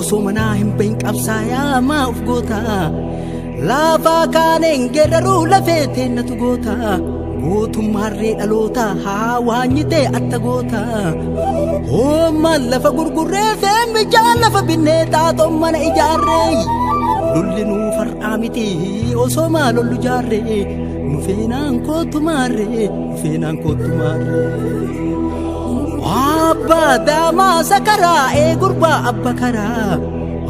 Osoo manaa hin bahin qabsaayaa maa of goota Laafaa kaaneen geerraruu lafee teennatu goota Mootummaa harree dhaloota haa waanyitee atta goota Hoommaan lafa gurgurree feen bijaa lafa binnee xaaxoon mana ijaarree Lolli nuu far'aa miti osoo maa lollu jaarree Nu feenaan kootu maarree Seenaan kootu maarree. Abbaa daamaa sakaraa ee gurbaa abba karaa.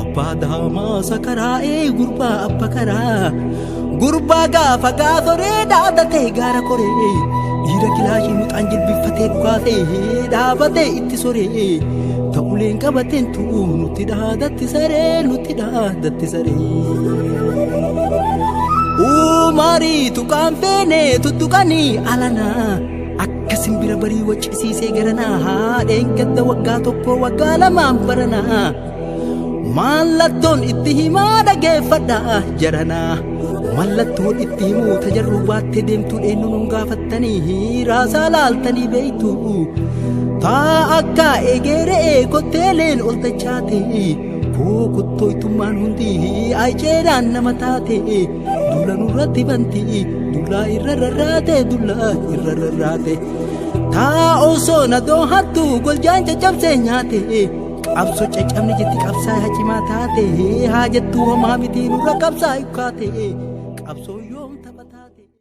Abbaa daamaa sakaraa ee gurbaa abba karaa. Gurbaa gaafa gaasoree dhaadatee gaara koree. Dhiira kilaashii muxaan jilbiffatee dhukaasee dhaabatee itti soree. Ta'uleen qabateen tu'u nutti dhaadatti saree nutti dhaadatti saree. Uumariitu Tuqaan feene tuttuqanii alanaa akka simbira barii waccisiisee garanaa haadheen gadda waggaa tokko waggaa lamaan baranaa mallattoon itti himaa dhageeffadha jaranaa mallattoon itti himuu tajarruu baattee deemtuu eenyu nun gaafattanii hiiraasaa laaltanii beektu taa akka egeeree kotteeleen ol dachaate koo kuttoytummaan hundi ayceedhaan nama taate Duula nurratti bantii dullaa irra rarraate dullaa irra rarraate. Taa osoo na doohattu goljaan caccabsee nyaate. Qabso caccabni jetti qabsaa yaa cimaa taate haa jettu homaa mitii nurra qabsaa ikkaate. Qabsoo yoom tapha taate.